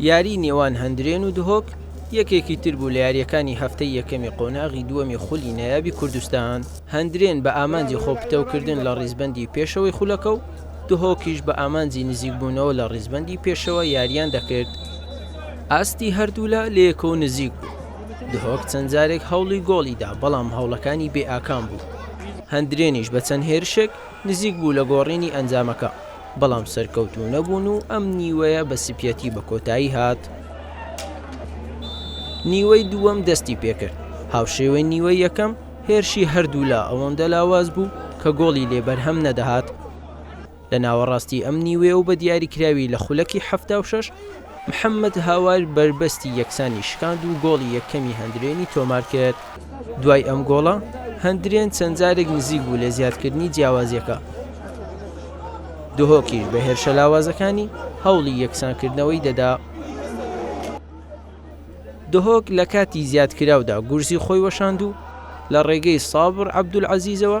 یاریی نێوان هەندرێن و دهۆک یەکێکی تر بوو لە یارییەکانی هەفتەی یەکەمی قۆناغی دووەمی خولی نایابی کوردستان، هەندرێن بە ئامانجی خۆپتەوکردن لە ڕیزبەندی پێشەوەی خولەکە و دهۆکیش بە ئامانجی نزیکبوونەوە لە ڕیزبەندی پێشەوە یارییان دەکرد، ئاستی هەردوولا لەیەکەوە نزیک بوو، دهۆک چەند جارێک هەوڵی گۆڵی دا، بەڵام هەوڵەکانی بێئاکام بوو، هەندرێنیش بە چەند هێرشێک نزیک بوو لە گۆڕینی ئەنجامەکە. بەڵام سەرکەوتوو نەبوون و ئەم نیوەیە بە سپیەتی بە کۆتایی هات. نیوەی دووەم دەستی پێکرد هاوشێوەی نیوەی یەکەم هێرشی هەردوولا ئەوەندە لاواز بوو کە گۆڵی لێ بەرهەم نەدەهات لە ناوەڕاستی ئەم نیوێ و بە دیاریکراوی لە خولەکی حەفتا و شەش محەمەد هاوار بەربەستی یەکسانی شکاند و گۆڵی یەکەمی هەندرێنی تۆمارکرد، دوای ئەم گۆڵە هەندرێن چەند جارێک نزیک بوو لە زیادکردنی جیاوازییەکە، دهۆکیش بە هێرشە لاوازەکانی هەوڵی یەکسانکردنەوەی دەدا، دهۆک لە کاتی زیادکراودا گورزی خۆی وەشاند و لە ڕێگەی سابڕ عەبدولعەزیزەوە،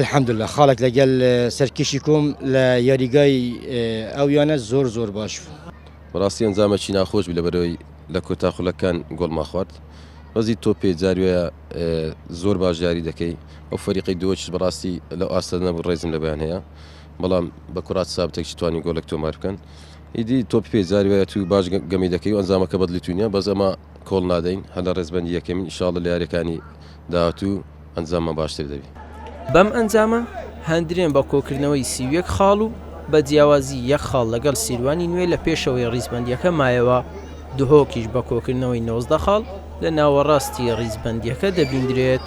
الحمدللە خاڵێک لەگەل سەرکیشی کۆم لە یاریگای ئەو یانە زۆر زۆر باش بوو. بەڕاستی ئەنجامەکی ناخۆش بوو لەبەرەوەی لە کۆتا خولەکان گۆڵمان خوارد ڕەزی تۆپێ جاروەیە زۆر باش یاری دەکەی ئەو فەریقەی دووەچش بەڕاستی لەو ئاستە نەبوو ڕێزم لە بەیان هەیە بەڵام بە کوڕات سابتێکی توانی گۆڵێک تۆمار بکەن ئیدی تۆپێ جاروەیە تو باش گەمی دەکەی و ئەنجامەکە بەدڵی تو نیە بەس ئەما کۆڵ نادەین هەر لە ڕێزبەندی یەکەمین ئیشاڵڵە لە یاریەکانی داهاتوو ئەنجاممان باشتر دەبی. بەم ئەنجامە هەندرێن بە کۆکردنەوەی سی و یەک خاڵ و بە جیاوازی یەک خاڵ لەگەڵ سیروانی نوێ لە پێشەوەی ڕیزبەندیەکە مایەوە، دهۆکیش بە کۆکردنەوەی نۆزدە خاڵ لە ناوەڕاستی ڕیزبەندیەکە دەبیندرێت.